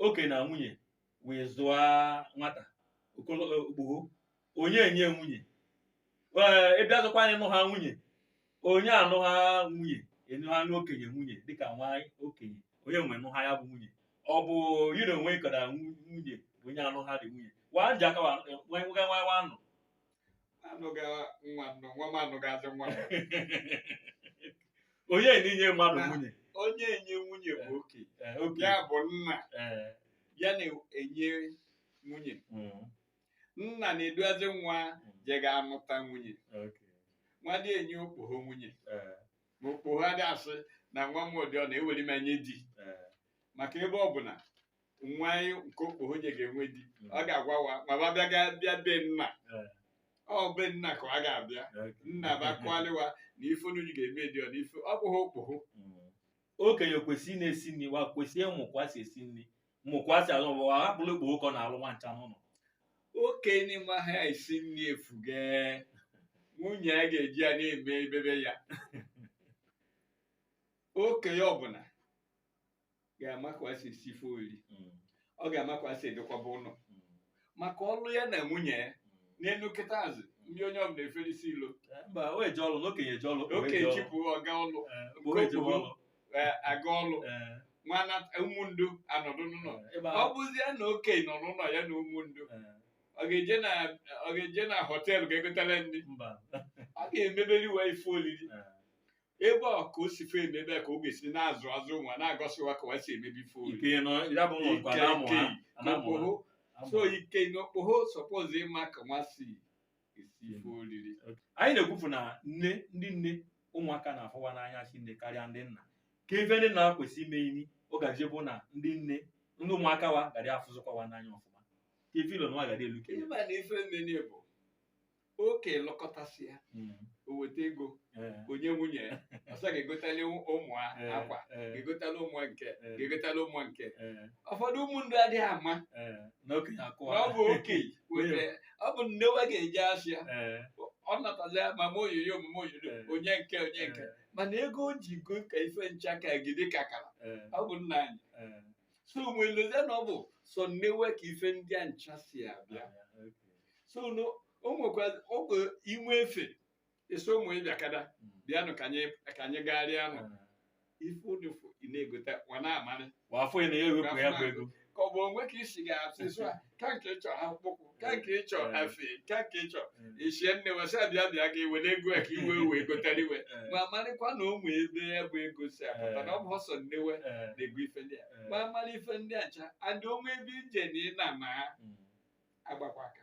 okenye na nwunye wee zụọ nwata okpogho onye enye nwunye ee ịbịa zụkwa anyị nụ ha nwunye onye anụ ha nwunye ịnụ ha okenye nwunye dịka nwa yị okenye onye m nụ ha ya bụ nwunye ọ bụ yi na onwe ịkọda nwunye bụ onye anụ ha dị nwunye wa eji aka wa aga nwa nwa nụ anụghị nwa nnụ nwa m anụghazị nwa m. onye na-enye mmadụ nwunye onye enye nwunye bụ oke Eh, oke ya bụ nna Eh, ya na-enye nwunye mm, nna na-eduazi nwa je ga anụta nwunye oke wa adị enye okpogho nwunye Eh, ma okpogho adị asị na nwa m ụdị ọ na-eweli m enye di eh, maka ebe ọ bụna nwa yị nke okpogho je ga-enwe di a ga-agwa wa ma ba bịa ga bịa be nna Eh. ọ be nna ka ọ ga-abịa nna ba akalị wa na ife unu ga-eme dị ọ na ife ọ bụghị okpogho Mm. okenye kwesịrị ị na-esi nri wa kwesịrị ịmụ ka e si esi nri mụ kwa si alụ wa hapụrụ okpogho ka ọ na-alụ wa ncha n'ụnọ okenye amaha esi nri efuge nwunye ya ga-eji ya na-eme ebebe ya okenye ọbụna ga-ama ka ọ si esi ife ori Mm. ọ ga-ama ka ọ si edokwaba ụnọ Mm. maka ọlụ ya na nwunye ya n'elu kịta azụ ndị inyom na-eferisi ilo Eh, mba o eje ọlụ na okenye eje ọlụ okpogho oke eje ọlụ. chipụ ọga ọlụ Eh, okpogho eje okpogho. ọlụ eh, aga ọlụ Eh, wa na ụmụndu anọdụ n'ụnọ eh, ịba- ọ bụzie na oke nọ n'ụnọ ya na ụmụndu Eh, ọ ga-eje na ọ ga-eje na họteelụ ga-egotara ndị mba ọ ga-emeberi wa ife olili Eh, ebe a ka o si ife emebe ka ọ ga-esi na-azụ azụ wa na-egosi wa ka wa si emebe ife ike nọ ya bụ ụlọ kwa na-amụ ha na-amụ ha so ike n'okpogho suppose ịma ka wa si esi ife oriri anyị na-ekwufu na nne ndị nne ụmụaka na-afụ wa n'anya sinne karịa ndị nna ka ife ndị nna kwesị ime ini ọ gaje bụ na ndị nna ndị ụmụaka wa gadị afụzịkwa wa n'anya ọfụma ka ife ilo wa gadị elu kere ịma na ife nne bụ oke lụkọtasịa Mm. o weta ego Eh. o nye nwunye ya ọsọ ga-egotali ụmụ ha Eh, akwa eh, ga-egotali ụmụ ha nke Eh. ga-egotali ụmụ ha nke eh, ụfọdụ ụmụndu adị ama eh. na okenye na akụwa ọ bụ oke wetara ọ bụ nne wa ga-eje asịa Eh, ọ natazịa mama oyoyo mama oyoyo Eh. o nye nke o nye nke eh, mana ego o ji go ka ife ncha ka gide ka kara eh, ọ bụ nna anyị eh. so wa elezie na ọ bụ sọ nne wa ka ife ndị a ncha si abịa so no o nwekwa ọ bụ i nwee efe eso ụmụ ịbịa kada bịanụ ka anyị ka anyị gagharịa anụ ife ụdị fụ ị na-egote nwa na-amarị wafọ ya na ya ewepụ ya bụ ego ka ọ bụ onwe ka isi ga-asị so a ka nke ị chọrọ akpụkpụ ka nke ị chọrọ Eh. afe ka nke ị chọrọ Eh, i si Nnewi si abịa bịa gị were ego a ka ị wee wee gotara ife eh, ma marịkwa na o nwee ebe ya bụ ego si apụta na ọ bụ sọ Nnewi eh, na-ego ife ndị a eh, ma mara ife ndị a ncha adị o nwee ebe ị je na ị na-ama mm. agbakwa aka